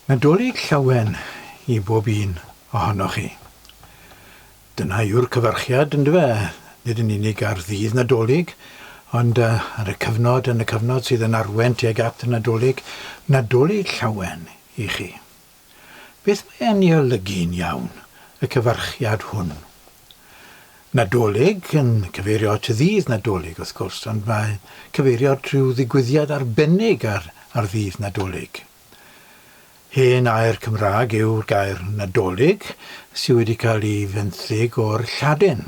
Nadolig llawen i bob un ohonoch chi. Dyna yw'r cyfarchiad, yndyfe, nid yn unig ar ddydd Nadolig, ond ar y cyfnod, yn y cyfnod sydd yn arwain tuag at y Nadolig, Nadolig llawen i chi. Beth mae e'n ei olygu'n iawn, y cyfarchiad hwn? Nadolig, yn cyfeirio at Ddydd Nadolig, wrth gwrs, ond mae'n cyfeirio at ryw ddigwyddiad arbennig ar, ar Ddydd Nadolig. Hen air Cymraeg yw'r gair Nadolig, sydd wedi cael ei fenthyg o'r Lladin.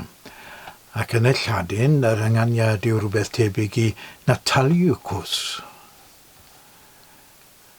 Ac yn y Lladin, yr ynganiad yw rhywbeth tebyg i Nataliucus.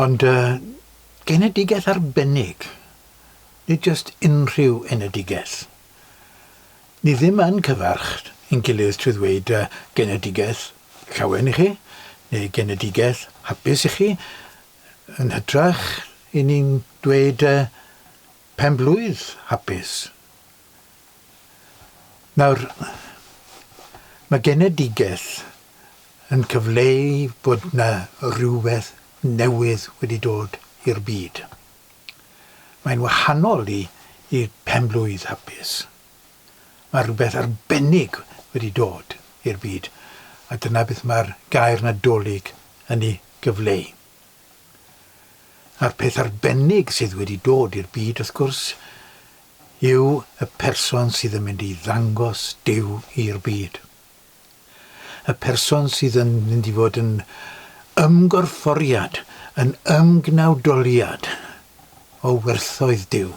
Ond yy, genedigaeth arbennig, nid jyst unrhyw enedigaeth. Ni ddim yn cyfarch ein gilydd trwy ddweud yy, genedigaeth llawen i chi, neu genedigaeth hapus i chi, yn hytrach, 'yn ni'n dweud yy, pen-blwydd hapus. Nawr, mae genedigaeth yn cyfleu bod yna rhywbeth newydd wedi dod i'r byd. Mae'n wahanol i i phenblwydd hapus. Mae rhywbeth arbennig wedi dod i'r byd, a dyna beth mae'r gair Nadolig yn ei gyfleu. A'r peth arbennig sydd wedi dod i'r byd, wrth gwrs, yw y person sydd yn mynd i ddangos Duw i'r byd. Y person sydd yn mynd i fod yn ymgorfforiad, yn ymgnawdoliad o werthoedd Duw,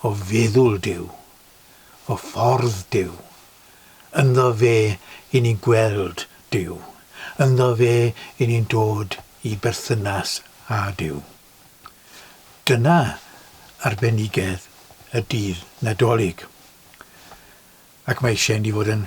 o feddwl Duw, o ffordd Duw. Ynddo fe i ni'n gweld Duw. Ynddo fe i ni'n dod i berthynas â Duw. Dyna arbenigedd y dydd Nadolig. Ac mae eisiau ni fod yn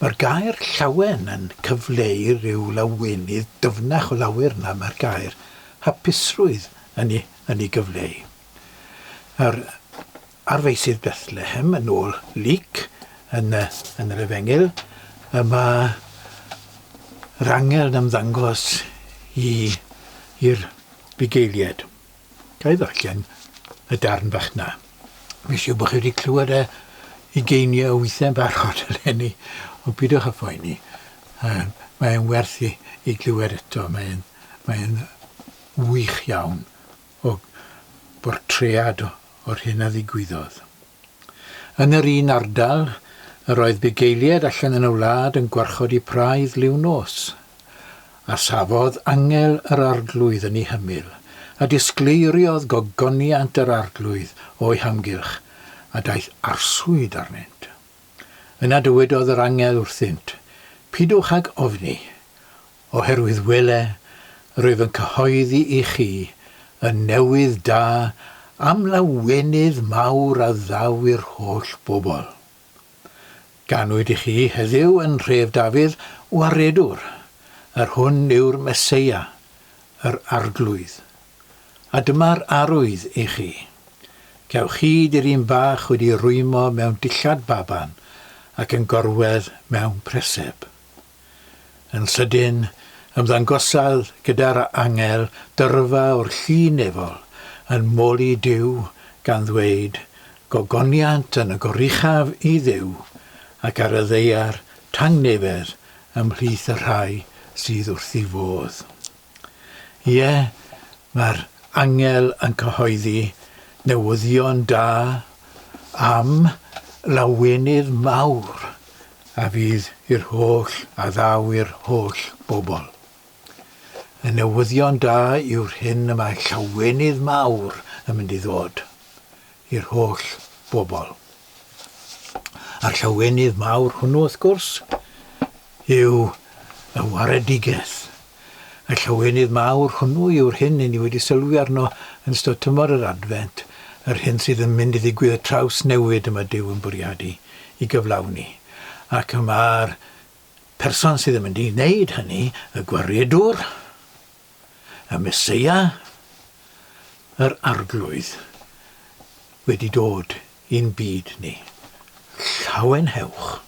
Mae'r gair 'llawen' yn cyfleu rhyw lawenydd dyfnach o lawer na mae'r gair 'hapusrwydd' yn ei yn ei gyfleu. Nawr, ar feysydd Bethlehem, yn ôl Luc, yn y yn yr Efengyl, y mae yr angel yn ymddangos i i'r bugeilied. Ga i ddarllen y darn bach 'na? Fi'n siŵr bod chi wedi clywed e ugeiniau o weithiau'n barod eleni, ond pidwch â phoeni. Um, mae e'n werth i, i glywed eto. Mae e'n mae wych iawn o bortread o'r hyn a ddigwyddodd. Yn yr un ardal, yr oedd bugeiliaid allan yn y wlad yn gwarchod eu praidd liw nos, a safodd angel yr arglwydd yn eu hymyl, a disgleiriodd gogoniant yr arglwydd o'u hamgylch, a daeth arswyd arnynt. Yna dywedodd yr angel wrthynt, Pidwch ag ofni, Oherwydd wele, rwyf yn cyhoeddi i chi y newydd da am lawenydd mawr a ddaw i'r holl bobl. Ganwyd i chi heddiw yn nhref Dafydd waredwr, yr hwn yw'r Meseia, yr Arglwydd. A dyma'r arwydd i chi, Cewch chi diryn bach wedi'i rwymo mewn dillad baban ac yn gorwedd mewn preseb. Yn sydyn, ymddangosodd gyda'r angel dyrfa o'r llu nefol yn moli Duw, gan ddweud, Gogoniant yn y goruchaf i Dduw, ac ar y ddaear tangnefedd ymhlith y rhai sydd wrth ei fodd. Ie, mae'r angel yn cyhoeddi newyddion da am lawenydd mawr a fydd i'r holl a ddaw i'r holl bobl. Y newyddion da yw'r hyn y mae llawenydd mawr yn mynd i ddod. i'r holl bobl. A'r llawenydd mawr hwnnw, wrth gwrs, yw y waredigaeth. Y llawenydd mawr hwnnw yw'r hyn i ni wedi sylwi arno yn ystod tymor yr Adfent, yr hyn sydd yn mynd i ddigwydd, y trawsnewid y mae Duw yn bwriadu i gyflawni. Ac y mae'r person sydd yn mynd i wneud hynny, y gwaredwr, y Meseia, yr Arglwydd, wedi dod i'n byd ni. Llawen hewch!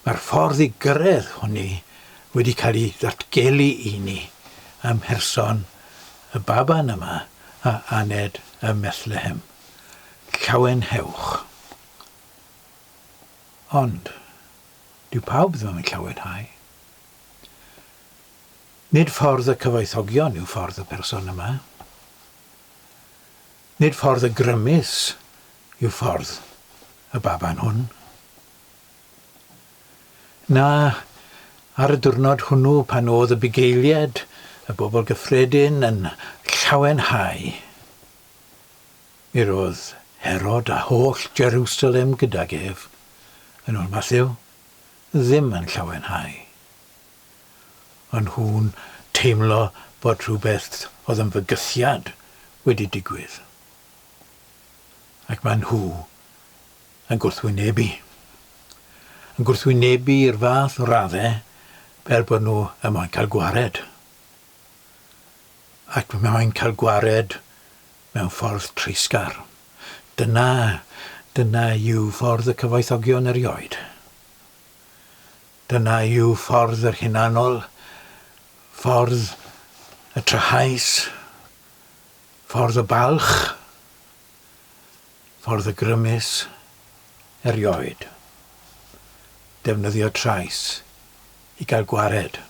Mae'r ffordd i gyrraedd hwnni wedi cael ei ddatgelu i ni ym mherson y baban yma a aned ym Methlehem. Llawen hewch! Ond, dyw pawb ddim yn llawenhau. Nid ffordd y cyfoethogion yw ffordd y person yma. Nid ffordd y grymus yw ffordd y baban hwn. Na, ar y diwrnod hwnnw pan oedd y bugeiliad, y bobl gyffredin, yn llawenhau, mi roedd Herod a holl Jerusalem gydag ef, yn ôl Mathew, ddim yn llawenhau. O'n nhw'n teimlo bod rhywbeth oedd yn fygythiad wedi digwydd. Ac maen nhw yn gwrthwynebu. Yn gwrthwynebu i'r fath o raddau fel bod nhw yn moyn cael gwared. Ac maen nhw'n cael gwared mewn ffordd treisgar. Dyna, dyna yw ffordd y cyfoethogion erioed. Dyna yw ffordd yr hunanol, ffordd y trahaus, ffordd y balch, ffordd y grymus, erioed. Defnyddio trais i gael gwared.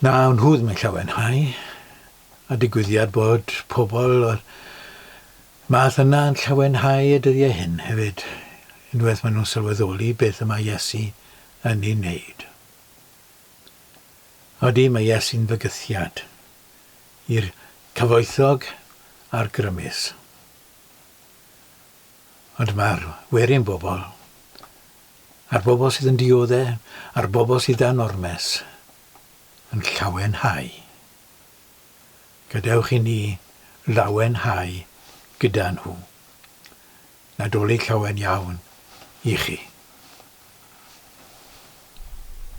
Na, wn hwd mae llawenhau, a digwyddiad bod pobl Mae dyna yn llawenhau y dyddiau hyn hefyd, unwaith maen nhw'n sylweddoli beth y mae Iesu yn ei wneud. Ydy, mae Iesu'n fygythiad i'r cyfoethog a'r grymus. Ond mae'r werin bobl, a'r bobl sydd yn dioddau, a'r bobl sydd dan ormes, yn llawenhau. gadewch i ni lawenhau gyda nhw. Nadolig llawen iawn i chi.